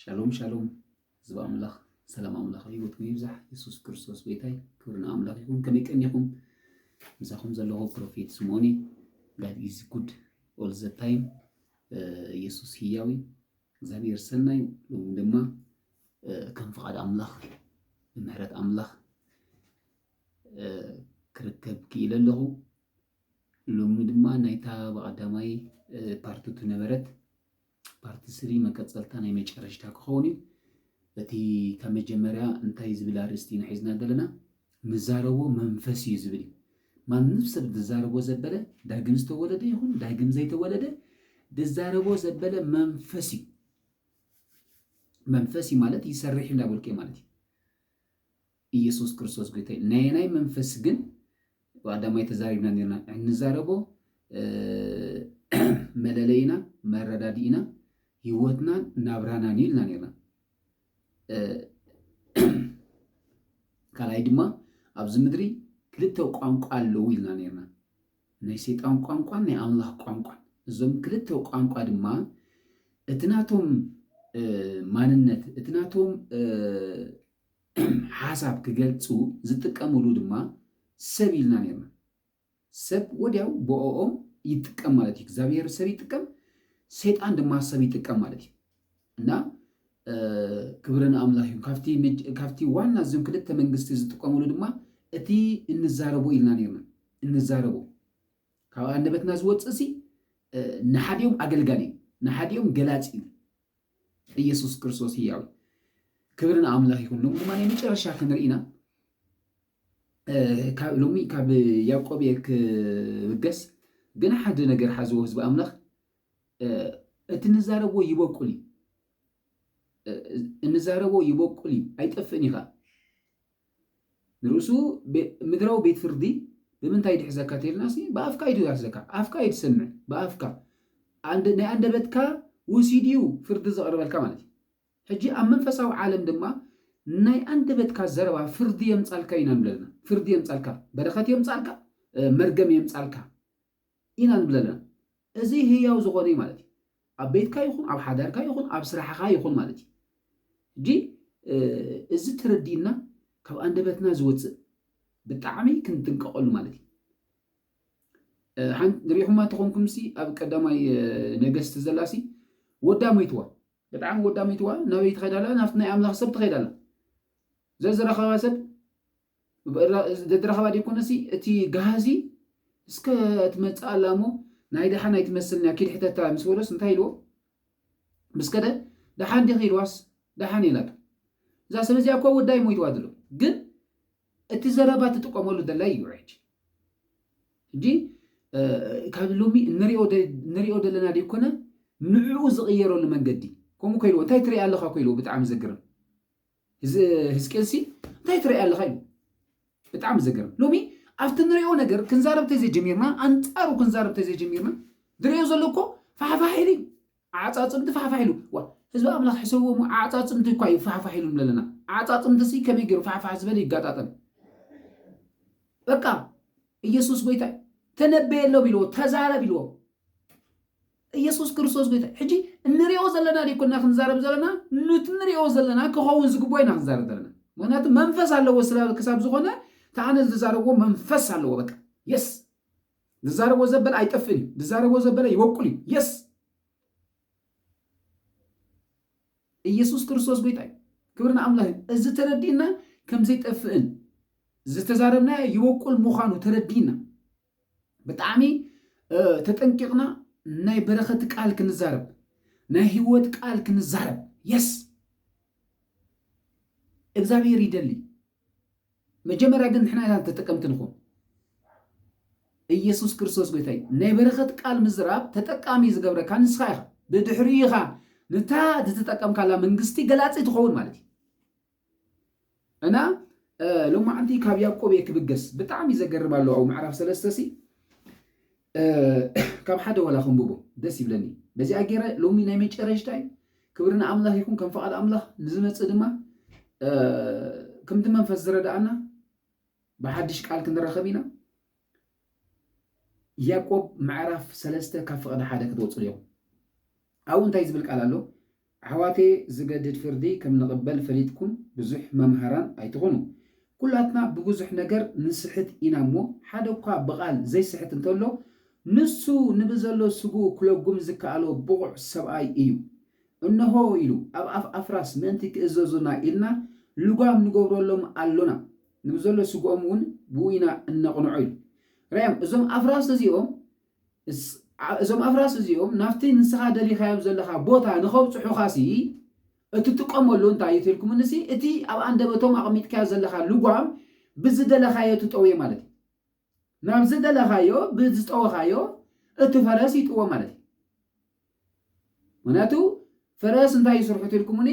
ሻሎም ሻሎም ህዝቢ ኣምላኽ ሰላም ኣምላኽ ህይወትኩም ይብዛሕ የሱስ ክርስቶስ ጎይታይ ክብሪ ንኣምላኽ ይኹን ከመይ ቀኒኹም ምሳኹም ዘለኹ ፕሮፌት ስምኦን እዩ ጋድ ኢዝ ጉድ ኦል ዘ ታይም የሱስ ህያዊ እግዚኣብሔር ሰናይ ሎሚ ድማ ከም ፍቓድ ኣምላኽ ብምህረት ኣምላኽ ክርከብ ክኢለ ኣለኹ ሎሚ ድማ ናይታ ብቐዳማይ ፓርት ቱ ነበረት ፓርት ስሪ መቀጸልታ ናይ መጨረሽታ ክኸውን እዩ። እቲ ካብ መጀመርያ እንታይ ዝብል ኣርእስቲ ኢና ሒዝና ዘለና? ንዛረቦ መንፈስ እዩ ዝብል እዩ። ማንም ሰብ ዝዛረቦ ዘበለ ዳግም ዝተወለደ ይኹን ዳግም ዘይተወለደ ዝዛረቦ ዘበለ መንፈስ እዩ። መንፈስ እዩ ማለት ይሰርሕ እንዳበልኩ እየ ማለት እዩ። ኢየሱስ ክርስቶስ ጎይታይ ናየናይ መንፈስ ግን ብቀዳማይ ተዛሪብና ነርና እንዛረቦ መለለይና መረዳድኢና ህይወትናን ናብራናን እዩ ኢልና ነርና ካልኣይ ድማ ኣብዚ ምድሪ ክልተ ቋንቋ ኣለዉ ኢልና ነርና ናይ ሰይጣን ቋንቋን ናይ ኣምላኽ ቋንቋን እዞም ክልተ ቋንቋ ድማ እቲ ናቶም ማንነት እቲ ናቶም ሓሳብ ክገልጹ ዝጥቀሙሉ ድማ ሰብ ኢልና ኔርና። ሰብ ወድያው ብኦኦም ይጥቀም ማለት እዩ። እግዚኣብሄር ሰብ ይጥቀም፣ ሰይጣን ድማ ሰብ ይጥቀም ማለት እዩ። እና ክብሪ ንኣምላኽ እዩ። ካብቲ ዋና እዞም ክልተ መንግስቲ ዝጥቀሙሉ ድማ እቲ እንዛረቦ ኢልና ኔርና እንዛረቦ ካብ ኣንደበትና ዝወፅእ ሲ ንሓዲኦም ኣገልጋሊ እዩ፣ ንሓዲኦም ገላፂ እዩ። ኢየሱስ ክርስቶስ ህያው እዩ። ክብሪ ንኣምላኽ ይኹን። ሎሚ ድማ ናይ መጨረሻ ክንርኢ ኢና። ሎሚ ካብ ያዕቆብ እየ ክብገስ ግን ሓደ ነገር ሓዝዎ ህዝቢ ኣምላኽ እቲ እንዛረቦ ይበቁል እዩ እንዛረቦ ይበቁል እዩ ኣይጠፍእን እዩ ከዓ ንርእሱ ምድራዊ ቤት ፍርዲ ብምንታይ ይድሕዘካ ተይልናሲ ብኣፍካ እዩ ድዳህዘካ ኣፍካ እዩ ትሰምዕ ብኣፍካ ናይ ኣንደበትካ ውሲድ እዩ ፍርዲ ዘቕርበልካ ማለት እዩ ሕጂ ኣብ መንፈሳዊ ዓለም ድማ ናይ ኣንደበትካ ዘረባ ፍርዲ የምጻልካ ኢና ንብለልና ፍርዲ የምጻልካ በረኸት የምጻልካ መርገም የምጻልካ ኢና ንብል ዘለና። እዚ ህያው ዝኾነ እዩ ማለት እዩ። ኣብ ቤትካ ይኹን፣ ኣብ ሓዳርካ ይኹን፣ ኣብ ስራሕኻ ይኹን ማለት እዩ። ሕጂ እዚ ተረዲእና ካብ ኣንደበትና ዝወጽእ ብጣዕሚ ክንጥንቀቐሉ ማለት እዩ። ንሪኢኹማ ተኾንኩምሲ ኣብ ቀዳማይ ነገስቲ ዘላሲ ወዳ ሞይትዋ ብጣዕሚ ወዳ ሞይትዋ ናበይ ትኸይዳላ ናብቲ ናይ ኣምላኽ ሰብ ትኸይዳላ ዘዝረኸባ ሰብ ደድራኸባ ደይኮነሲ እቲ ጋህዚ እስከ ትመጽእ ኣላ እሞ ናይ ደሓን ኣይትመስልንያ ኪድ ሕተታ ምስ በሎስ እንታይ ኢልዎ ምስ ከደ ደሓን ዲኺ ኢልዋስ ደሓን የላቶ እዛ ሰብ እዚኣ እኮ ወዳይ ሞይትዋ ድሎ ግን እቲ ዘረባ ትጥቀመሉ ዘላ እዩ ሕጂ ሕጂ ካብ ሎሚ ንሪኦ ዘለና ደይኮነ ንዕኡ ዝቕየረሉ መንገዲ ከምኡ ከኢልዎ እንታይ ትሪኢ ኣለኻ ኮይልዎ ብጣዕሚ ዘግርም እዚ ህዝቅኤልሲ እንታይ ትርእይ ኣለኻ እዩ ብጣዕሚ ዘገርም ሎሚ ኣብቲ ንሪኦ ነገር ክንዛረብ ተዘይጀሚርና ኣንጻሩ ክንዛረብ ተዘይጀሚርና ዝርእዮ ዘሎ እኮ ፋሕፋሕ ኢሉ ኣዓጻጽምቲ ፋሕፋሕ ኢሉ ዋ ህዝቢ ኣምላኽ ሕሰብዎ እሞ ኣዓጻጽምቲ እኳ እዩ ፋሕፋሕ ኢሉ ንብለለና ኣዓጻጽምቲሲ ከመይ ገይሩ ፋሕፋሕ ዝበለ ይጋጣጠም በቃ ኢየሱስ ጎይታ ተነበየሎም ኢልዎ ተዛረብ ኢልዎ እየሱስ ክርስቶስ ጎይታ ሕጂ እንሪኦ ዘለና ደይኮና ክንዛረብ ዘለና ኑቲ ንሪኦ ዘለና ክኸውን ዝግቦ ኢና ክንዛረብ ዘለና ምክንያቱ መንፈስ ኣለዎ ስላል ክሳብ ዝኾነ ተኣነ ዝዛረብዎ መንፈስ ኣለዎ በቃ የስ ዝዛረቦ ዘበለ ኣይጠፍእን እዩ ዝዛረቦ ዘበለ ይበቁል እዩ የስ ኢየሱስ ክርስቶስ ጎይታ እዩ ክብሪ ንኣምላኽ እዩ እዚ ተረዲእና ከምዘይጠፍእን ዝተዛረብና ይበቁል ምዃኑ ተረዲእና ብጣዕሚ ተጠንቂቅና ናይ በረኸት ቃል ክንዛረብ ናይ ህይወት ቃል ክንዛረብ የስ እግዚኣብሔር ይደሊ መጀመሪያ ግን ንሕና ኢና ተጠቀምቲ ንኹን ኢየሱስ ክርስቶስ ጎይታ እዩ ናይ በረኸት ቃል ምዝራብ ተጠቃሚ ዝገብረካ ንስኻ ኢኻ ብድሕሪ ኢኻ ንታ ዝተጠቀምካላ መንግስቲ ገላፂ ትኸውን ማለት እዩ እና ሎማዓንቲ ካብ ያቆብ እየ ክብገስ ብጣዕሚ ዘገርም ኣሎ ኣብ ምዕራፍ ሰለስተ ሲ ካብ ሓደ ወላ ከንብቦ ደስ ይብለኒ በዚኣ ገይረ ሎሚ ናይ መጨረሽታ እዩ ክብሪ ንኣምላኽ ይኹን ከም ፍቓድ ኣምላኽ ንዝመፅእ ድማ ከምቲ መንፈስ ዝረዳእና ብሓድሽ ቃል ክንራኸብ ኢና ያዕቆብ ምዕራፍ ሰለስተ ካብ ፍቕዲ ሓደ ክትወፅሉ እዮም ኣብኡ እንታይ ዝብል ቃል ኣሎ ኣሕዋተየ ዝገድድ ፍርዲ ከም ንቅበል ፈሊጥኩም ብዙሕ መምሃራን ኣይትኹኑ ኩላትና ብብዙሕ ነገር ንስሕት ኢና እሞ ሓደ እኳ ብቃል ዘይስሕት እንተሎ ንሱ ንብዘሎ ስግኡ ክለጉም ዝከኣሎ ብቑዕ ሰብኣይ እዩ እንሆ ኢሉ ኣብ ኣፍ ኣፍራስ ምእንቲ ክእዘዙና ኢልና ልጓም ንገብረሎም ኣሎና ንብዘሎ ስግኦም እውን ብኡ ኢና እነቕንዖ ኢሉ ራዮም እዞም ኣፍራስ እዚኦም እዞም ኣፍራስ እዚኦም ናብቲ ንስኻ ደሊኻዮም ዘለኻ ቦታ ንኸብጽሑኻሲ እትጥቀመሉ እንታይ እዩ ተልኩምንሲ እቲ ኣብ ኣንደበቶም ኣቕሚጥካዮ ዘለኻ ልጓም ብዝደለኻዮ ትጠውዮ ማለት እዩ። ናብ ዝደለኻዮ ብዝጠወኻዮ እቲ ፈረስ ይጥወ ማለት እዩ። ምክንያቱ ፈረስ እንታይ እዩ ስርሑ ትልኩሙኒ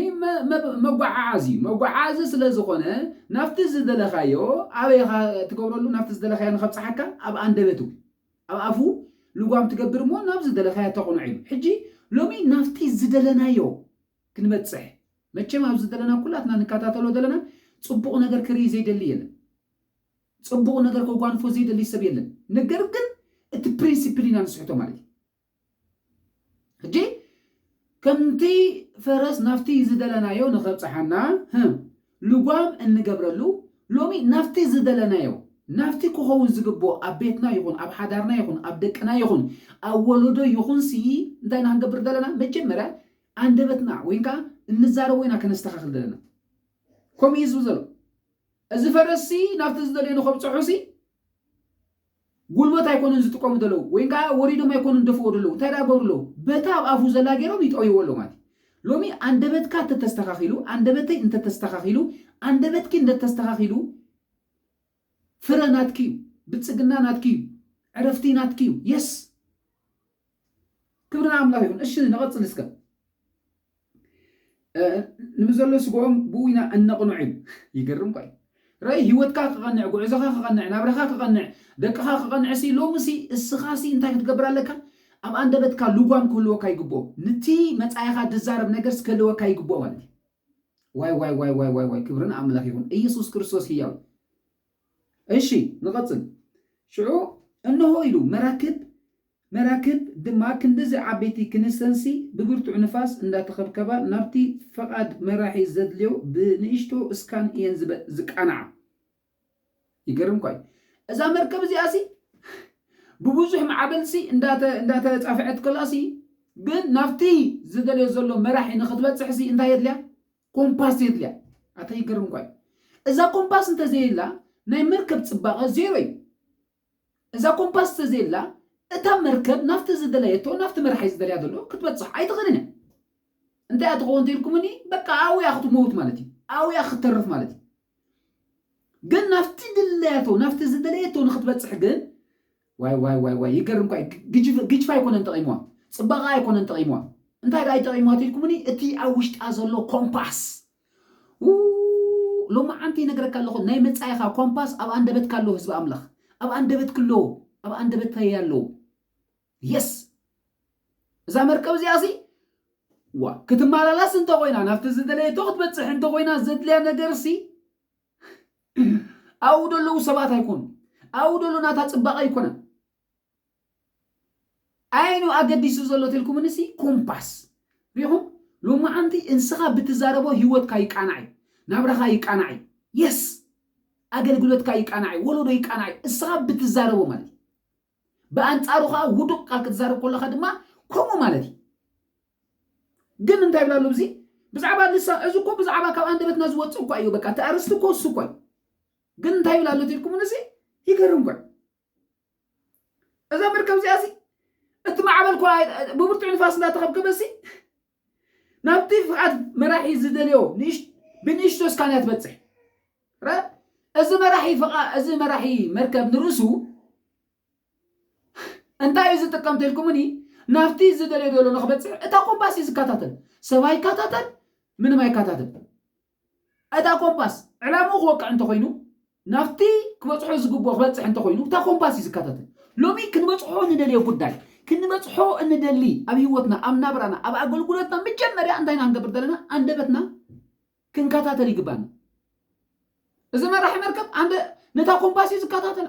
መጓዓዓዚ እዩ መጓዓዓዚ ስለ ዝኮነ ናብቲ ዝደለካዮ ኣበይ ኢካ ትገብረሉ ናብቲ ዝደለካዮ ንከብጽሓካ ኣብ ኣንደበቱ ኣብ ኣፉ ልጓም ትገብር እሞ ናብ ዝደለካዮ ተቕንዖ ኢሉ ሕጂ ሎሚ ናብቲ ዝደለናዮ ክንበጽሕ መቸም ኣብ ዝደለና ኩላትና ንከታተሎ ዘለና ጽቡቕ ነገር ክርኢ ዘይደሊ የለን ጽቡቕ ነገር ከጓንፎ ዘይደሊ ሰብ የለን ነገር ግን እቲ ፕሪንሲፕል ኢና ንስሕቶ ማለት እዩ ሕጂ ከምቲ ፈረስ ናብቲ ዝደለናዮ ንኸብጽሓና ልጓም እንገብረሉ ሎሚ ናብቲ ዝደለናዮ ናብቲ ክኸውን ዝግብኦ ኣብ ቤትና ይኹን ኣብ ሓዳርና ይኹን ኣብ ደቅና ይኹን ኣብ ወለዶ ይኹንሲ እንታይ ኢና ክንገብር ዘለና መጀመርያ ኣንደበትና ወይ ከዓ እንዛረቦ ኢና ከነስተኻኽል ዘለና ከምኡ እዩ ዝብል ዘሎ እዚ ፈረስሲ ናብቲ ዝደልዮ ንኸብፅሑሲ ጉልበት ኣይኮኑን ዝጥቀሙ ዘለዉ ወይን ከኣ ወሪዶም ኣይኮኑን ዝደፍእዎ ዘለዉ እንታይ ደኣ ይገብሩ ኣለዉ በታ ኣብ ኣፉ ዘላ ጌሮም ይጠውይዎ ኣለዉ ማለት እዩ ሎሚ ኣንደበትካ እንተተስተኻኺሉ ኣንደበተይ እንተተስተኻኺሉ ኣንደበትኪ እንደተስተኻኺሉ ፍረ ናትኪ እዩ ብልጽግና ናትኪ እዩ ዕረፍቲ ናትኪ እዩ የስ ክብሪ ንኣምላኽ ይኹን እሺ ንቐጽል እስከ ንምዘሎ ስግኦም ብኡይና እነቕንዑ እዩ። ይገርም እኳ እዩ። ራኢ ህይወትካ ክቐንዕ፣ ጉዕዞኻ ክቐንዕ፣ ናብራኻ ክቐንዕ፣ ደቅኻ ክቐንዕሲ ሎምሲ እስኻሲ እንታይ ክትገብር ኣለካ? ኣብ ኣንደበትካ ልጓም ክህልወካ ይግብኦ። ንቲ መጻኢኻ ድዛረብ ነገርሲ ክህልወካ ይግብኦ ማለት እዩ። ዋይዋይዋይዋይዋይ ክብሪ ንኣምላኽ ይኹን ኢየሱስ ክርስቶስ ህያው እዩ። እሺ ንቐጽል። ሽዑ እንሆ ኢሉ መራክብ መራክብ ድማ ክንድዚ ዓበይቲ ክንስተን ሲ ብብርቱዕ ንፋስ እንዳተኸብከባ ናብቲ ፈቓድ መራሒ ዘድልዮ ብንእሽቶ እስካን እየን ዝቃናዓ። ይገርም እኳ እዩ። እዛ መርከብ እዚኣ ሲ ብብዙሕ ማዕበል ሲ እንዳተጻፍዐት ከላ ሲ ግን ናብቲ ዝደልዮ ዘሎ መራሒ ንኽትበጽሕ ሲ እንታይ የድልያ? ኮምፓስ የድልያ ኣታ ይገርም እኳ እዩ እዛ ኮምፓስ እንተዘየላ ናይ መርከብ ፅባቐ ዜሮ እዩ እዛ ኮምፓስ እንተዘየላ እታ መርከብ ናብቲ ዝደለየቶ ናብቲ መራሒ ዝደልያ ዘሎ ክትበፅሕ ኣይትኽእልን እያ እንታይ እያ ትኸውን ተኢልኩምኒ በቃ ኣውያ ክትመውት ማለት እዩ ኣውያ ክትተርፍ ማለት እዩ ግን ናብቲ ድለያቶ ናብቲ ዝደለየቶ ንክትበፅሕ ግን ዋይ ዋይ ዋይ ዋይ ይገርም እኳ እዩ ግጅፍ ግጅፍ ኣይኮነን ጠቂምዋ ጽባቀኣ ኣይኮነን ጠቂምዋ እንታይ ደኣ እዩ ጠቂምዋ ትልኩምኒ እቲ ኣብ ውሽጣ ዘሎ ኮምፓስ ው ሎማዓንቲ ይነግረካ ኣለኹ ናይ መጻኢኻ ኮምፓስ ኣብ ኣንደበትካ ኣሎ ህዝቢ ኣምላኽ ኣብ ኣንደበትክ ኣሎ ኣብ ኣንደበተይ ኣሎ የስ እዛ መርከብ እዚኣ ሲ ዋ ክትመላላስ እንተኾይና ናብቲ ዝደለየቶ ክትበጽሕ እንተኾይና ዘድልያ ነገርሲ ኣብኡ ዘለዉ ሰባት ኣይኮኑ ኣብኡ ዘሎ ናታ ፅባቐ ኣይኮነን ዓይኑ ኣገዲሱ ዘሎ ተልኩምን ሲ ኮምፓስ ሪኹም ሎማዓንቲ እንስኻ ብትዛረቦ ህይወትካ ይቃናዕ እዩ ናብራኻ ይቃናዕ እዩ የስ ኣገልግሎትካ ይቃናዕ እዩ ወለዶ ይቃናዕ እዩ እስኻ ብትዛረቦ ማለት እዩ ብኣንጻሩ ከኣ ውዱቕ ቃል ክትዛረብ ከለኻ ድማ ከምኡ ማለት እዩ። ግን እንታይ ይብላ ኣሎ ብዚ ብዛዕባ ልሳ እዚ እኮ ብዛዕባ ካብ ኣንደበትና ዝወጽእ እኳ እዩ በቃ እቲ ኣርእስቲ እኮ እሱ እኳ እዩ ግን እንታይ ይብላ ኣሎ ትልኩምን እዚ ይገርም እኳ እዛ መርከብ እዚኣ እዚ እቲ ማዕበል እኳ ብብርቱዕ ንፋስ እንዳተኸብከበ እዚ ናብቲ ፍቓድ መራሒ ዝደልዮ ብንእሽቶ ስካንያ ትበጽሕ። ረ እዚ መራሒ ፍቓ እዚ መራሒ መርከብ ንርእሱ እንታይ እዩ ዝጥቀም ተልኩምኒ ናብቲ ዝደልዮ ደሎ ንክበጽሕ እታ ኮምፓስ እዩ ዝከታተል። ሰብ ኣይከታተል ምንም ኣይከታተል። እታ ኮምፓስ ዕላምኡ ክወቅዕ እንተኾይኑ፣ ናብቲ ክበጽሖ ዝግብኦ ክበጽሕ እንተኾይኑ፣ እታ ኮምፓስ እዩ ዝከታተል። ሎሚ ክንበጽሖ እንደልዮ ጉዳይ፣ ክንበጽሖ እንደሊ ኣብ ህይወትና፣ ኣብ ናብራና፣ ኣብ ኣገልግሎትና መጀመርያ እንታይ ኢና ክንገብር ዘለና? ኣንደበትና ክንከታተል ይግብኣና። እዚ መራሒ መርከብ ኣንደ ነታ ኮምፓስ እዩ ዝከታተላ።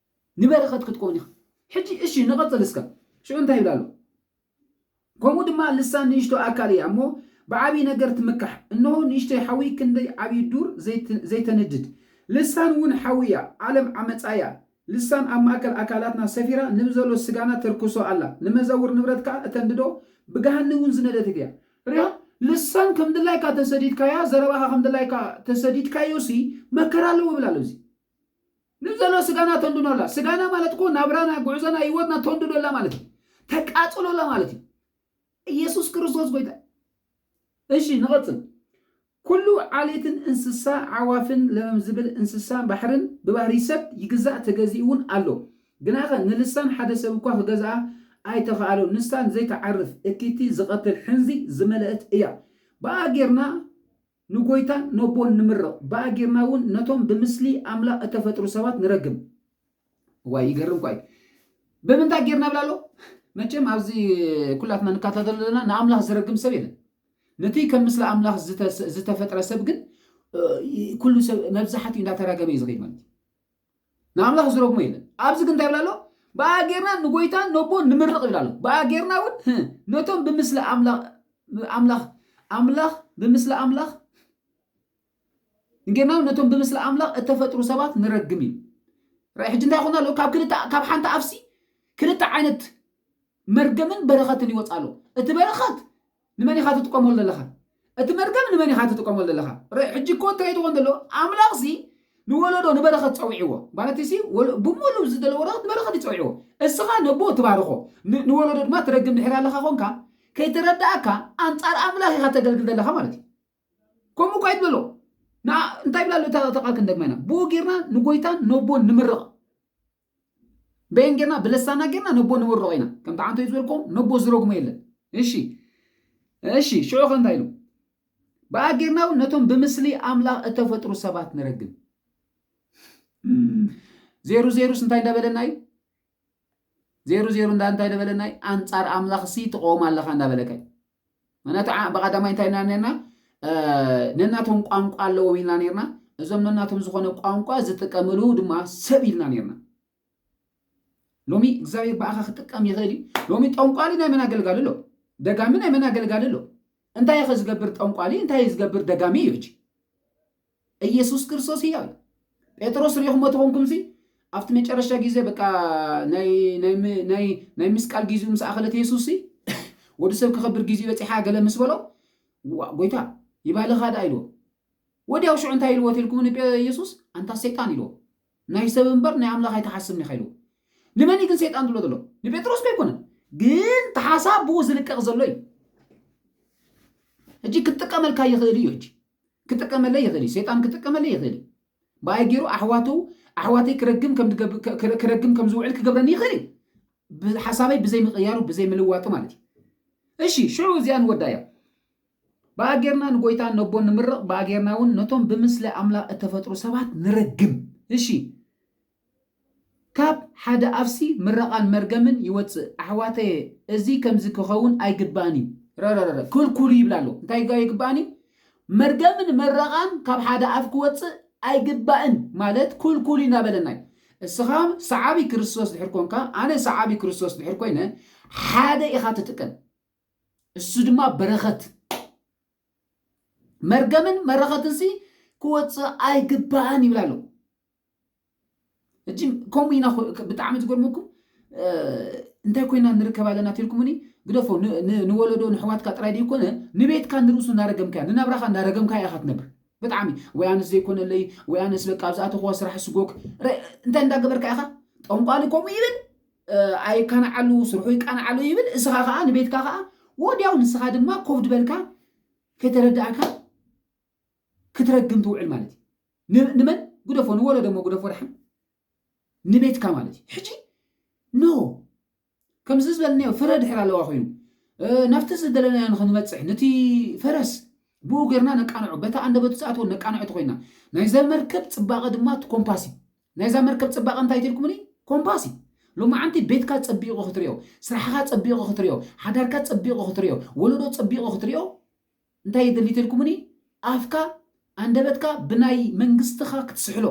ንበረኸት ክትኮን ኢኻ ሕጂ እሺ ንቐጽል እስከ ሽዑ እንታይ ይብል ኣሎ ከምኡ ድማ ልሳን ንእሽቶ ኣካል እያ እሞ ብዓብዪ ነገር ትምካሕ እንሆ ንእሽተይ ሓዊ ክንደይ ዓብዪ ዱር ዘይተንድድ ልሳን እውን ሓዊ እያ ዓለም ዓመጻ እያ ልሳን ኣብ ማእከል ኣካላትና ሰፊራ ንብዘሎ ስጋና ተርክሶ ኣላ ንመዘውር ንብረት ከኣ እተንድዶ ብገሃኒ እውን ዝነደደት እያ ርያ ልሳን ከም ድላይካ ተሰዲድካያ ዘረባኻ ከም ድላይካ ተሰዲድካዮሲ መከራ ኣለዎ ይብል ኣሎ እዚ ንዘሎ ስጋና ተንድኖላ ስጋና ማለት እኮ ናብራና ጉዕዞና ህይወትና ተንድዶላ ማለት እዩ ተቃጽሎላ ማለት እዩ ኢየሱስ ክርስቶስ ጎይታ እሺ ንቐጽል ኩሉ ዓሌትን እንስሳ ዓዋፍን ለመም ዝብል እንስሳ ባሕርን ብባህሪ ሰብ ይግዛእ ተገዚኡ እውን ኣሎ ግናኸ ንልሳን ሓደ ሰብ እኳ ክገዝኣ ኣይተኸኣሎን ንሳ ንዘይትዓርፍ እኪቲ ዝቐትል ሕንዚ ዝመለእት እያ ብኣ ጌርና ንጐይታን ነቦን ንምርቕ፣ ብኣ ጌርና እውን ነቶም ብምስሊ ኣምላኽ እተፈጥሩ ሰባት ንረግም። እዋይ ይገርም እኳ እዩ። ብምንታይ ጌርና ይብል ኣሎ? መቸም ኣብዚ ኩላትና ንከታተሎ ዘለና ንኣምላኽ ዝረግም ሰብ የለን። ነቲ ከም ምስሊ ኣምላኽ ዝተፈጥረ ሰብ ግን ኩሉ ሰብ መብዛሕትኡ እንዳተራገመ እዩ ዝኸይድ ማለት እዩ። ንኣምላኽ ዝረግሞ የለን። ኣብዚ ግን እንታይ ይብል ኣሎ? ብኣ ጌርና ንጎይታን ነቦን ንምርቕ ይብል ኣሎ። ብኣ ጌርና እውን ህ፣ ነቶም ብምስሊ ኣምላ- ኣምላኽ ኣምላኽ ብምስሊ ኣምላኽ ንጌርና እውን ነቶም ብምስሊ ኣምላኽ እተፈጥሩ ሰባት ንረግም እዩ። ራእይ ሕጂ እንታይ ይኹን ኣሎ? ካብ ክልተ ካብ ሓንቲ ኣፍሲ ክልተ ዓይነት መርገምን በረኸትን ይወጽእ ኣሎ። እቲ በረኸት ንመን ኢኻ ትጥቀመሉ ዘለኻ? እቲ መርገም ንመን ኢኻ ትጥቀመሉ ዘለኻ? ርእ፣ ሕጂ እኮ እንታይ እዩ ዝኸውን ዘሎ? ኣምላኽሲ ንወለዶ ንበረኸት ጸዊዕዎ። ማለትሲ ወል ብምሉኡ ዝደለ ወረኸት ንበረኸት እዩ ጸዊዕዎ። እስኻ ነቦ ትባርኾ፣ ን ንወለዶ ድማ ትረግም ድሒር ኣለኻ ኾንካ፣ ከይተረድኣካ ኣንጻር ኣምላኽ ኢኻ ተገልግል ዘለኻ ማለት እዩ። ከምኡ እኳ ኣይትበሎ። ንኣ እንታይ ይብል ኣሎ እታ እታ ቃል ክንደግማ ኢና። ብኡ ጌርና ንጎይታን ነቦን ንምርቕ። በየን ጌርና ብለሳና ጌርና ነቦ ንምርቆ ኢና ከምቲ ዓንተዩ ዝበልኩም ነቦ ዝረግሞ የለን እሺ እሺ ሽዑ ከ እንታይ ኢሉ ብኣ ጌርና እውን ነቶም ብምስሊ ኣምላኽ እተፈጥሩ ሰባት ንረግም ዜሩ ዜሩስ እንታይ እንዳበለና እዩ ዜሩ ዜሩ እንዳ እንታይ እንዳበለና እዩ ኣንጻር ኣምላኽሲ ትቐወም ኣለኻ እንዳበለካ እዩ ምክንያቱ ዓ- ብቀዳማይ እንታይ ኢልና ነርና ነናቶም ቋንቋ ኣለዎም ኢልና ነርና እዞም ነናቶም ዝኾነ ቋንቋ ዝጥቀምሉ ድማ ሰብ ኢልና ነርና ሎሚ እግዚኣብሔር ብኣኻ ክጥቀም ይኽእል እዩ ሎሚ ጠንቋሊ ናይ መን ኣገልጋሊ ኣሎ ደጋሚ ናይ መን ኣገልጋሊ ኣሎ እንታይ ኸ ዝገብር ጠንቋሊ እንታይ ዝገብር ደጋሚ እዩ ሕጂ እየሱስ ክርስቶስ ህያው እዩ። ጴጥሮስ ርኢኹሞ ተኾንኩምሲ ኣብቲ መጨረሻ ግዜ በቃ ናይ ምስቃል ግዜኡ ምስ ኣኸለት የሱስሲ ወዲ ሰብ ክኸብር ግዜኡ በፂሓ ገለ ምስ በሎ ጎይታ ይባልኻ ደኣ ኢልዎ ወዲያው ሽዑ እንታይ ኢልዎ ተልኩም ንየሱስ ኣንታ ሰይጣን ኢልዎ ናይ ሰብ እምበር ናይ ኣምላኽ ኣይተሓስብን ኢኻ ኢልዎ ንመን እዩ ግን ሰይጣን ዝብሎ ዘሎ ንጴጥሮስ ከ ኣይኮነን ግን ተሓሳብ ብኡ ዝልቀቕ ዘሎ እዩ ሕጂ ክትጥቀመልካ ይኽእል እዩ ሕጂ ክጥቀመለይ ይኽእል እዩ። ሰይጣን ክጥቀመለይ ይኽእል እዩ። ብኣይ ገይሩ ኣሕዋቱ ኣሕዋተይ ክረግም ከም ዝገብ- ከ- ከ- ክረግም ከም ዝውዕል ክገብረኒ ይኽእል እዩ። ብ- ሓሳበይ ብዘይ ምቕያሩ ብዘይ ምልዋጡ ማለት እዩ። እሺ ሽዑ እዚኣ ንወዳ እያ። ብኣ ጌርና ንጎይታን ነቦን ንምርቕ፣ ብኣ ጌርና እውን ነቶም ብምስለ ኣምላኽ እተፈጥሩ ሰባት ንረግም። እሺ ካብ ሓደ ኣፍሲ ምረቓን መርገምን ይወጽእ ኣሕዋተየ እዚ ከምዚ ክኸውን ኣይግባእን እዩ ረረረረ ክልኩሉ ይብል ኣሎ እንታይ ኣይግባእን እዩ መርገምን መረቓን ካብ ሓደ ኣፍ ክወጽእ ኣይግባእን ማለት ክልኩሉ እዩ እናበለና እዩ እስኻ ሰዓቢ ክርስቶስ ድሕር ኮንካ ኣነ ሰዓቢ ክርስቶስ ድሕር ኮይነ ሓደ ኢኻ ትጥቀም እሱ ድማ በረኸት መርገምን መረኸትንሲ ክወጽእ ኣይግባእን ይብል ኣሎ እጂ ከምኡ ኢና ብጣዕሚ ዝገርመኩም እንታይ ኮይና ንርከብ ኣለና ተልኩምኒ ግደፎ ንወለዶ ንሕዋትካ ጥራይ ዘይኮነ ንቤትካ ንርእሱ እናረገምካያ ንናብራኻ እናረገምካያ ኢኻ ትነብር ብጣዕሚ ወይ ኣነስ ዘይኮነለይ ወይ ኣነስ በቃ ኣብ ዝኣተኹዋ ስራሕ ስጎክ እንታይ እንዳገበርካ ኢኻ ጠንቋሊ ከምኡ ይብል ኣይካናዓሉ ስርሑ ይቃናዓሉ ይብል እስኻ ከዓ ንቤትካ ከዓ ወዲያው ንስኻ ድማ ኮብድ በልካ ከይተረዳእካ ክትረግም ትውዕል ማለት እዩ ንመን ግደፎ ንወለዶ እሞ ግደፎ ደሓን ንቤትካ ማለት እዩ ሕጂ ኖ ከምዚ ዝበልናዮ ፍረ ድሕር ኣለዋ ኮይኑ ናብቲ ዝደለናዮ ንክንበፅሕ ነቲ ፈረስ ብኡ ገርና ነቃንዖ በታ ኣንደበቱ ዝኣትወ ነቃንዖቲ ኮይና ናይዛ መርከብ ፅባቐ ድማ እቲ ኮምፓስ እዩ ናይዛ መርከብ ፅባቐ እንታይ ትልኩምኒ ኮምፓስ እዩ ሎማዓንቲ ቤትካ ፀቢቑ ክትሪኦ ስራሕኻ ፀቢቑ ክትሪኦ ሓዳርካ ፀቢቑ ክትሪኦ ወለዶ ፀቢቑ ክትሪኦ እንታይ እዩ ድሊት ኢልኩሙኒ ኣፍካ ኣንደበትካ ብናይ መንግስትኻ ክትስሕሎ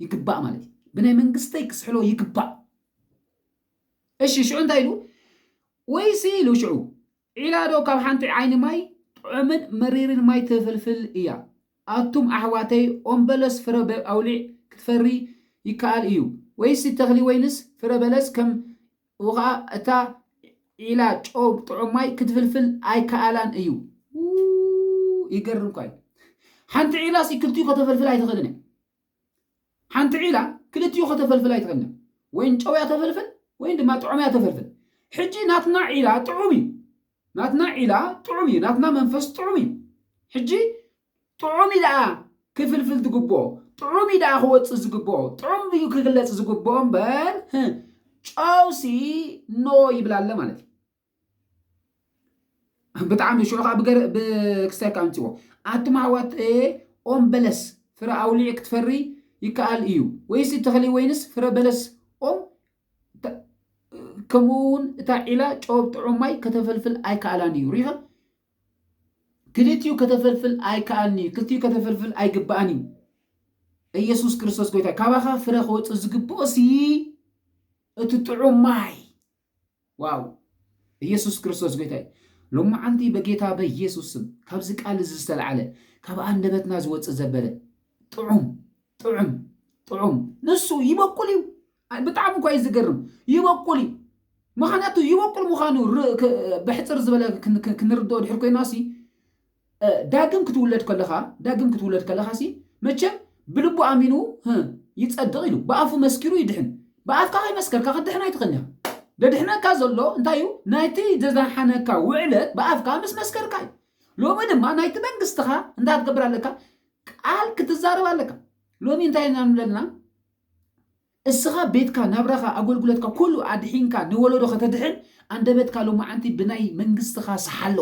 ይግባእ ማለት እዩ ብናይ መንግስተይ ክስሕሎ ይግባእ እሺ ሽዑ እንታይ ኢሉ ወይሲ ኢሉ ሽዑ ዒላዶ ካብ ሓንቲ ዓይኒ ማይ ጥዑምን መሪርን ማይ ትፍልፍል እያ ኣቱም ኣሕዋተይ ኦም በለስ ፍረ ኣውሊዕ ክትፈሪ ይከኣል እዩ ወይሲ ተኽሊ ወይንስ ፍረ በለስ ከም እኡ ኸኣ እታ ዒላ ጨው ጥዑም ማይ ክትፍልፍል ኣይከኣላን እዩ። ይገርም እኳ እዩ። ሓንቲ ዒላ ሲ ክልቲኡ ከተፈልፍል ኣይትኽእልን እያ። ሓንቲ ዒላ ክልቲኡ ከተፈልፍል ኣይትኽእልን እያ። ወይን ጨው እያ ተፈልፍል ወይን ድማ ጥዑም እያ ተፈልፍል። ሕጂ ናትና ዒላ ጥዑም እዩ። ናትና ዒላ ጥዑም እዩ። ናትና መንፈስ ጥዑም እዩ። ሕጂ ጥዑም እዩ ደኣ ክፍልፍል ዝግብኦ፣ ጥዑም እዩ ደኣ ክወጽእ ዝግብኦ፣ ጥዑም እዩ ክግለጽ ዝግብኦ እምበር ህ፣ ጨውሲ ኖ ይብላ ኣለ ማለት እዩ። ብጣዕሚ ሽዑ ከዓ ብገር- ብክስተርካ ኣምፅዎ ኣቱም ኣሕዋት እ፣ ኦም በለስ ፍረ ኣውሊዕ ክትፈሪ ይከኣል እዩ ወይስ እቲ ተኽሊ ወይንስ ፍረ በለስ ኦም ተ- ከምኡ እውን እታ ዒላ ጨው ኣብ ጥዑም ማይ ከተፈልፍል ኣይከኣላን እዩ ሪኸ ክልቲኡ ከተፈልፍል ኣይከኣልን እዩ። ክልቲኡ ከተፈልፍል ኣይግባእን እዩ። ኢየሱስ ክርስቶስ ጎይታ ካባኻ ፍረ ክወፅእ ዝግብኦሲ እቲ ጥዑም ማይ ዋው ኢየሱስ ክርስቶስ ጎይታ እዩ። ሎመዓንቲ በጌታ በኢየሱስ ስም ካብዚ ቃል እዚ ዝተለዓለ ካብ ኣንደበትና ዝወፅእ ዘበለ ጥዑም ጥዑም ጥዑም ንሱ ይበቁል እዩ። ብጣዕሚ እኳ እዩ ዝገርም ይበቁል እዩ ምክንያቱ ይበቁል ምዃኑ ብሕፅር ዝበለ ክንርድኦ ድሕር ኮይና ሲ ዳግም ክትውለድ ከለኻ ዳግም ክትውለድ ከለኻ ሲ መቸም ብልቡ ኣሚኑ ይፀድቕ ኢሉ ብኣፉ መስኪሩ ይድሕን ብኣፍካ ከይመስከርካ ክትድሕን ኣይትኽእልን ኢኻ ደድሕነካ ዘሎ እንታይ እዩ ናይቲ ዘዛሓነካ ውዕለት ብኣፍካ ምስ መስከርካ እዩ ሎሚ ድማ ናይቲ መንግስትኻ እንታይ ክትገብር ኣለካ ቃል ክትዛረብ ኣለካ ሎሚ እንታይ ኢና ንብለልና እስኻ ቤትካ ናብራኻ ኣጎልጉለትካ ኩሉ ኣድሒንካ ንወሎዶ ከተድሕን ኣንደበትካ ሎማዓንቲ ብናይ መንግስትኻ ስሓሎ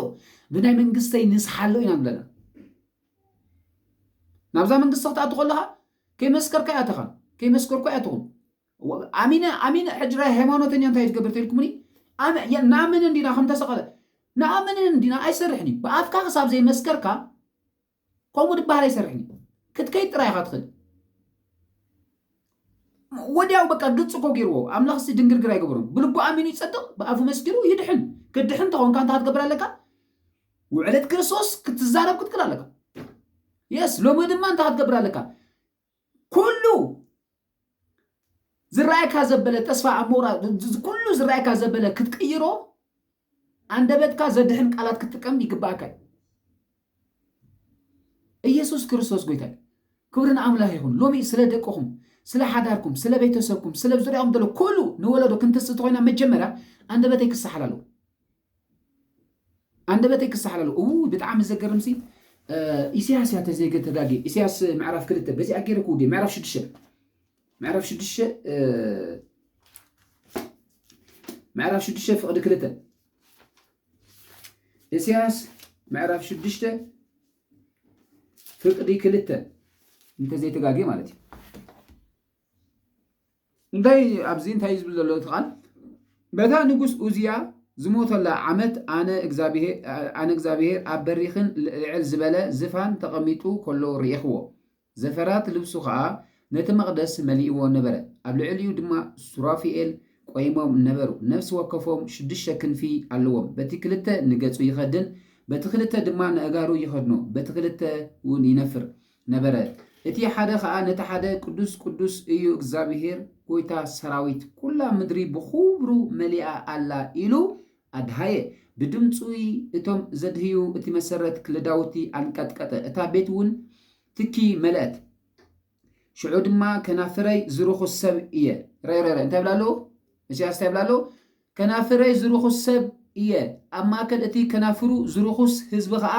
ብናይ መንግስተይ ንስሓሎ ኢና ንብለና ናብዛ መንግስቲ ክትኣቱ ከለኻ ከይመስከርካ ያተኻ ከይመስከርኩ ያትኹም ኣሚነ ኣሚነ ሕጅራ ሃይማኖተኛ እንታይ ትገብር ተልኩምኒ ንኣምን እንዲና ከም ተሰቐለ ንኣምን እንዲና ኣይሰርሕን እዩ ብኣፍካ ክሳብ ዘይመስከርካ ከምኡ ድበሃል ኣይሰርሕን እዩ ክትከይድ ጥራይ ኢኻ ትኽእል ወዲያው በቃ ግልፂ እኮ ገይርዎ ኣምላኽ ሲ ድንግርግር ኣይገበሮም ብልቡ ኣሚኑ ይፀድቕ ብኣፉ መስኪሩ ይድሕን ክትድሕን ተኾንካ እንታይ ክትገብር ኣለካ ውዕለት ክርስቶስ ክትዛረብ ክትክል ኣለካ የስ ሎሚ ድማ እንታይ ክትገብር ኣለካ ኩሉ ዝረኣየካ ዘበለ ተስፋ ኣብ ምቑራጽ ኩሉ ዝረኣየካ ዘበለ ክትቅይሮ ኣንደበትካ ዘድሕን ቃላት ክትጥቀም ይግባእካ እዩ። ኢየሱስ ክርስቶስ ጎይታ እዩ። ክብሪ ንኣምላኽ ይኹን። ሎሚ ስለ ደቅኹም፣ ስለ ሓዳርኩም፣ ስለ ቤተሰብኩም፣ ስለ ዙሪያኹም ዘሎ ኩሉ ንወለዶ ክንትስእ ተኾይና መጀመርያ ኣንደበተይ ክሰሓል ኣለዎ። ኣንደበተይ ክሳሓል ኣለዎ እውይ ብጣዕሚ ዘገርምሲ ኢሰያስ እያ ተዘይገ ተጋጊየ ኢሰያስ ምዕራፍ ክልተ በዚኣ ገይረ ክውዲ ምዕራፍ ሽዱሽተ ምዕራፍ ሽዱሽተ ምዕራፍ ሽዱሽተ ፍቕዲ ክልተ ኢሰያስ ምዕራፍ ሽዱሽተ ፍቅዲ ክልተ እንተዘይተጋጊየ ማለት እዩ እንታይ ኣብዚ እንታይ እዩ ዝብል ዘሎ እቲ ቃል በታ ንጉስ ኡዝያ ዝሞተላ ዓመት ኣነ እግዚኣብሄር ኣነ እግዚኣብሄር ኣብ በሪኽን ልዕል ዝበለ ዝፋን ተቐሚጡ ከሎ ርኢኽዎ ዘፈራት ልብሱ ኸኣ ነቲ መቕደስ መሊእዎ ነበረ ኣብ ልዕሊኡ ድማ ሱራፊኤል ቆይሞም ነበሩ ነፍሲ ወከፎም ሽዱሽተ ክንፊ ኣለዎም በቲ ክልተ ንገጹ ይኸድን በቲ ክልተ ድማ ንእጋሩ ይኸድኖ በቲ ክልተ እውን ይነፍር ነበረ እቲ ሓደ ከኣ ነቲ ሓደ ቅዱስ ቅዱስ እዩ እግዚኣብሄር ጐይታ ሰራዊት ኵላ ምድሪ ብኽብሩ መሊኣ ኣላ ኢሉ ኣድሃየ ብድምጹ እቶም ዘድህዩ እቲ መሰረት ክለዳውቲ ኣንቀጥቀጠ እታ ቤትውን ትኪ መለእት ሽዑ ድማ ከናፍረይ ዝርኹስ ሰብ እየ እንታይ ይብላ ኣሎ እሲያስ እንታይ ይብላ ኣሎ ከናፍረይ ዝርኹስ ሰብ እየ፣ ኣብ ማእከል እቲ ከናፍሩ ዝርኹስ ህዝቢ ኸኣ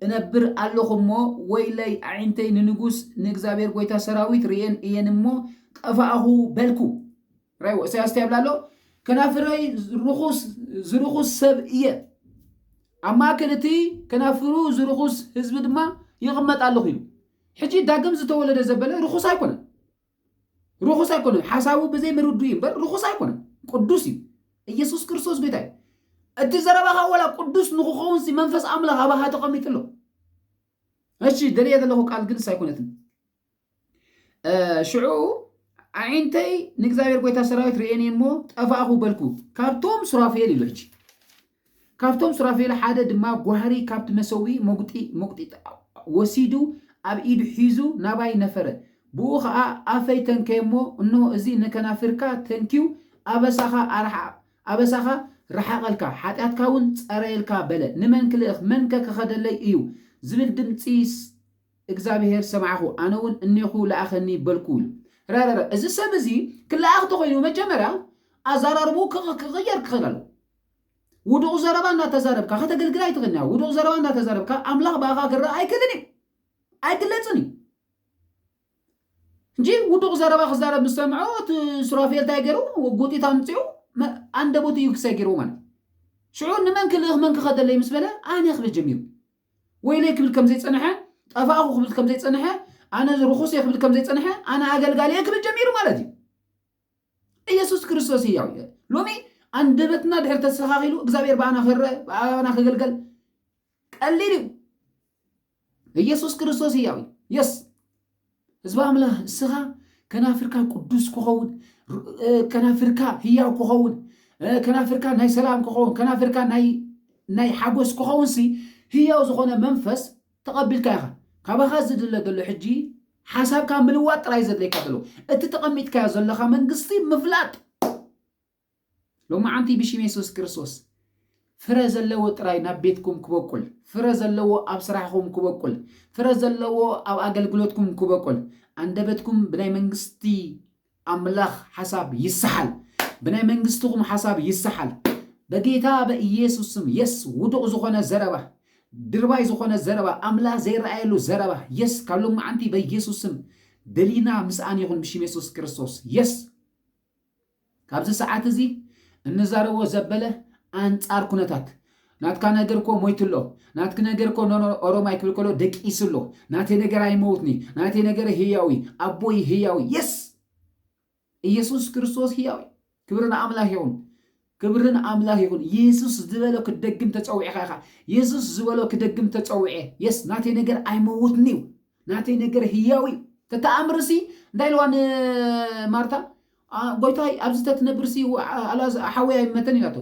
እነብር ኣሎኹ እሞ፣ ወይለይ ኣዒንተይ ንንጉስ ንእግዚኣብሄር ጐይታ ሰራዊት ርእየን እየን እሞ፣ ጠፋእኹ በልኩ። ራእይዎ፣ እሳያስ እንታይ ይብል ኣሎ? ከናፍረይ ርኹስ ዝርኹስ ሰብ እየ፣ ኣብ ማእከል እቲ ከናፍሩ ዝርኹስ ህዝቢ ድማ ይቕመጥ ኣለኹ ኢሉ። ሕጂ ዳግም ዝተወለደ ዘበለ ርኹስ ኣይኮነን። ርኹስ ኣይኮነን። ሓሳቡ ብዘይ ምርዱ እዩ እምበር ርኹስ ኣይኮነን፣ ቅዱስ እዩ። ኢየሱስ ክርስቶስ ጎይታ እዩ። እቲ ዘረባኻ ወላ ቅዱስ ንክኸውን ሲ መንፈስ ኣምላኽ ኣባኻ ተቐሚጡ ኣሎ። እሺ ደልየ ዘለኹ ቃል ግን ኣይኮነትን። ሽዑ ኣዒንተይ ንእግዚኣብሔር ጎይታ ሰራዊት ርእየኒ እሞ ጠፋእኹ በልኩ፣ ካብቶም ሱራፌል ኢሉ ሕጂ ካብቶም ሱራፌል ሓደ ድማ ጓህሪ ካብቲ መሰውኢ መጕጢ መጕጢት ወሲዱ ኣብ ኢዱ ሒዙ ናባይ ነፈረ። ብእኡ ኸኣ ኣፈይ ተንከየ እሞ፣ እንሆ፣ እዚ ንከናፍርካ ተንክዩ ኣበሳኻ ኣርሓቕ፣ ኣበሳኻ ረሓቐልካ፣ ሓጢኣትካውን ጸረየልካ በለ። ንመን ክልእኽ፣ መንከ ክኸደለይ እዩ? ዝብል ድምጺ እግዚኣብሄር ሰማዕኩ፣ ኣነውን እኔኹ ልኣኸኒ በልኩ ኢሉ። ራራራ እዚ ሰብ እዚ ክለኣኽ ተኾይኑ መጀመርያ ኣዛራርብኡ ክቕየር ክኽእል ኣለዎ። ውዱቕ ዘረባ እናተዛረብካ ከተገልግል ኣይትኽእልን ኢኻ። ውዱቕ ዘረባ እናተዛረብካ ኣምላኽ ብኣኻ ክረኣ ኣይክእልን እዩ። ኣይግለጽን እዩ። እንጂ ውዱቕ ዘረባ ክዛረብ ምስ ሰምዖ እቲ ሱራፌል እንታይ ገይሩ ጉጢት ኣምፂኡ መ- ኣንደበቱ እዩ ክሳይ ገይርዎ ማለት እዩ። ሽዑ ንመን ክልእኽ መን ክኸደለይ ምስ በለ ኣነ ክብል ጀሚሩ ወይለይ ክብል ከም ዘይጸንሐ ጠፋእኹ ክብል ከም ዘይጸንሐ ኣነ ርኹስ እየ ክብል ከም ዘይጸንሐ ኣነ ኣገልጋሊ እየ ክብል ጀሚሩ ማለት እዩ። ኢየሱስ ክርስቶስ ህያው እዩ ሎሚ ኣንደበትና ድሕር ተስተኻኺሉ እግዚኣብሔር ብኣና ክረአ ብኣና ክግልገል ቀሊል እዩ ኢየሱስ ክርስቶስ ህያው እዩ የስ ህዝቢ ኣምላኽ እስኻ ከናፍርካ ቅዱስ ክኸውን ከናፍርካ ህያው ክኸውን ከናፍርካ ናይ ሰላም ክኸውን ከናፍርካ ናይ ሓጎስ ክኸውን ሲ ህያው ዝኾነ መንፈስ ተቐቢልካ ኢኻ ካባኻ ዝድለ ዘሎ ሕጂ ሓሳብካ ምልዋጥ ጥራይ እዩ ዘድልየካ ዘሎ እቲ ተቐሚጥካዮ ዘለኻ መንግስቲ ምፍላጥ ሎማዓንቲ ብሽም የሱስ ክርስቶስ ፍረ ዘለዎ ጥራይ ናብ ቤትኩም ክበቁል ፍረ ዘለዎ ኣብ ስራሕኹም ክበቁል ፍረ ዘለዎ ኣብ ኣገልግሎትኩም ክበቁል ኣንደበትኩም ብናይ መንግስቲ ኣምላኽ ሓሳብ ይሰሓል ብናይ መንግስትኹም ሓሳብ ይሰሓል በጌታ በኢየሱስ ስም የስ ውዱቕ ዝኾነ ዘረባ ድርባይ ዝኾነ ዘረባ ኣምላኽ ዘይረኣየሉ ዘረባ የስ ካብ ሎማዓንቲ በኢየሱስ ስም ደሊና ምስኣን ይኹን ብሽም የሱስ ክርስቶስ የስ ካብዚ ሰዓት እዚ እንዛረቦ ዘበለ ኣንጻር ኩነታት ናትካ ነገር እኮ ሞይቱ ኣሎ ናትኪ ነገር እኮ ኖኖ ኦሮማይ ክብል ከሎ ደቂሱ ኣሎ ናተይ ነገር ኣይመውትኒ ናተይ ነገር ህያው እዩ ኣቦይ ህያው እዩ የስ ኢየሱስ ክርስቶስ ህያው እዩ ክብሪ ንኣምላኽ ይኹን ክብሪ ንኣምላኽ ይኹን ኢየሱስ ዝበሎ ክደግም ተጸዊዕኻ ኢኻ ኢየሱስ ዝበሎ ክደግም ተጸዊዐ የስ ናተይ ነገር ኣይመውትኒ እዩ ናተይ ነገር ህያው እዩ ተተኣምርሲ እንታይ ኢልዋ ንማርታ ኣእ ጎይታይ ኣብዚ ተትነብርሲ ኣላዝ ሓወይ ኣይመተን ኢላቶ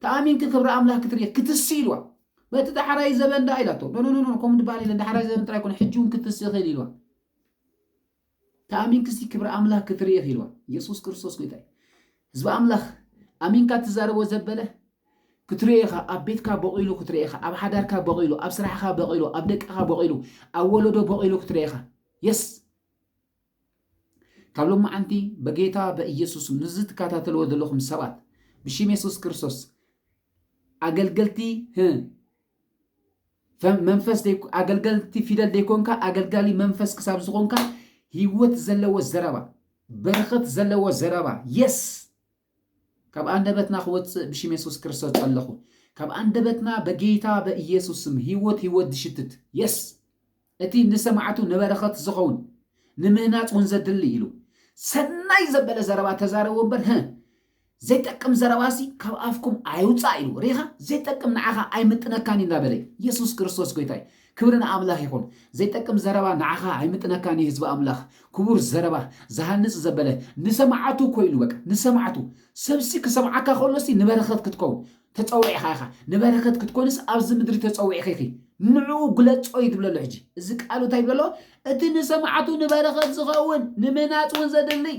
ተኣሚንኪ ክብሪ ኣምላክ ክትርኢ ክትሲ ኢልዋ በቲ ዳሕራይ ዘበን ደኣ ኢላቶ ኖኖኖኖ ከምኡ ድበሃል የለን ዳሕራይ ዘበን ጥራይ ኮነ ሕጂ እውን ክትሲ ይኽእል ኢልዋ ተኣሚንክሲ ክብሪ ኣምላክ ክትርኢ ኢልዋ ኢየሱስ ክርስቶስ ጎይታይ ህዝቢ ኣምላክ ኣሚንካ ትዛረቦ ዘበለ ክትርእኻ ኣብ ቤትካ በቂሉ ክትርእኻ ኣብ ሓዳርካ በቂሉ ኣብ ስራሕካ በቂሉ ኣብ ደቅኻ በቂሉ ኣብ ወለዶ በቂሉ ክትርእኻ የስ ካብ ሎማዓንቲ በጌታ በኢየሱስ ምስዚ ትካታተልዎ ዘለኹም ሰባት ብሽም የሱስ ክርስቶስ ኣገልገልቲ ህ መንፈስ ኣገልገልቲ ፊደል ዘይኮንካ ኣገልጋሊ መንፈስ ክሳብ ዝኾንካ ህይወት ዘለዎ ዘረባ በረኸት ዘለዎ ዘረባ የስ ካብ ኣንደበትና ክወጽእ ብሽም የሱስ ክርስቶስ ጸለኹ። ካብ ኣንደበትና በጌታ በኢየሱስ ስም ህይወት ህይወት ዝሽትት የስ እቲ ንሰማዕቱ ንበረኸት ዝኸውን ንምህናጽ እውን ዘድሊ ኢሉ ሰናይ ዘበለ ዘረባ ተዛረቡ እምበር ህ ዘይጠቅም ዘረባሲ ካብ ኣፍኩም ኣይውጻእ ኢሉ ሪኻ ዘይጠቅም ንዓኻ ኣይምጥነካን እዩ እንዳበለ ኢየሱስ ክርስቶስ ጎይታይ ክብሪ ንኣምላኽ ይኹን ዘይጠቅም ዘረባ ንዓኻ ኣይምጥነካን እዩ ህዝቢ ኣምላኽ ክቡር ዘረባ ዝሃንጽ ዘበለ ንሰማዓቱ ኮይኑ በቃ ንሰማዓቱ ሰብሲ ክሰምዓካ ከሎሲ ንበረኸት ክትከውን ተጸዊዕኻ ኢኻ ንበረኸት ክትኮንስ ኣብዚ ምድሪ ተጸዊዕኺ ኢኺ ንዕኡ ግለጾ እዩ ዝብለሎ ሕጂ እዚ ቃሉ እንታይ ይብለሎ እቲ ንሰማዕቱ ንበረኸት ዝኸውን ንምህናጽ እውን ዘድልይ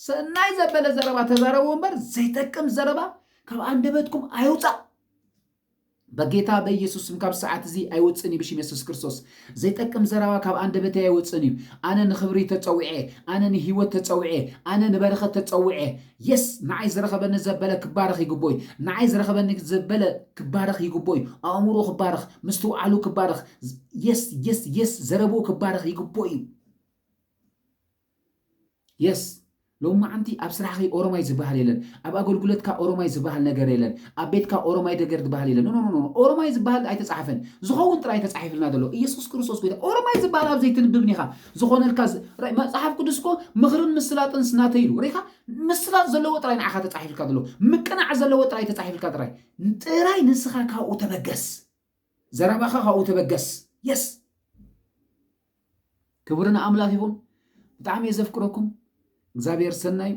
ሰናይ ዘበለ ዘረባ ተዛረቡ እምበር ዘይጠቅም ዘረባ ካብ ኣንደበትኩም ኣይውጻእ በጌታ በኢየሱስ ስም ካብ ሰዓት እዚ ኣይወጽእን እዩ ብሽም የሱስ ክርስቶስ ዘይጠቅም ዘረባ ካብ ኣንደበተይ ኣይወጽእን እዩ ኣነ ንክብሪ ተጸዊዐ ኣነ ንሂወት ተጸዊዐ ኣነ ንበረከት ተጸዊዐ የስ ንዓይ ዝረከበኒ ዘበለ ክባረክ ይግቦ እዩ ንዓይ ዝረከበኒ ዘበለ ክባረክ ይግቦ እዩ ኣእምሮ ክባረክ ምስትውዓሉ ክባረክ የስ የስ የስ ዘረብኡ ክባረክ ይግቦ እዩ Yes ሎምዓንቲ ኣብ ስራሕኺ ኦሮማይ ዝባሃል የለን ኣብ ኣገልጉለትካ ኦሮማይ ዝባሃል ነገር የለን ኣብ ቤትካ ኦሮማይ ደገር ድባሃል የለን ኖኖኖኖ ኦሮማይ ዝባሃል ኣይተጻሓፈን ዝኸውን ጥራይ ተጻሒፍልና ዘሎ ኢየሱስ ክርስቶስ ጎይታ ኦሮማይ ዝባሃል ኣብ ዘይትንብብን ኢኻ ዝኾነልካ መጽሓፍ ቅዱስ እኮ ምኽርን ምስላጥንስ ናተይ ኢሉ ሪኻ ምስላጥ ዘለዎ ጥራይ ንዓኻ ተጻሒፍልካ ዘሎ ምቅናዕ ዘለዎ ጥራይ ተጻሒፍልካ ጥራይ ጥራይ ንስኻ ካብኡ ተበገስ ዘረባኻ ካብኡ ተበገስ የስ ክብሪ ንኣምላኽ ይኹን። ብጣዕሚ እየ ዘፍቅረኩም። እግዚኣብሔር ሰናዩ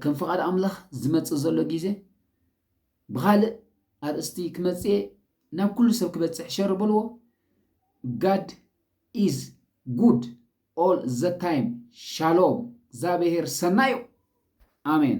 ከም ፍቓድ ኣምላኽ ዝመጽእ ዘሎ ግዜ ብኻልእ ኣርእስቲ ክመጽእ እየ ናብ ኩሉ ሰብ ክበጽሕ ሸር በልዎ ጋድ ኢዝ ጉድ ኦል ዘ ታይም ሻሎም እግዚኣብሔር ሰናዩ ኣሜን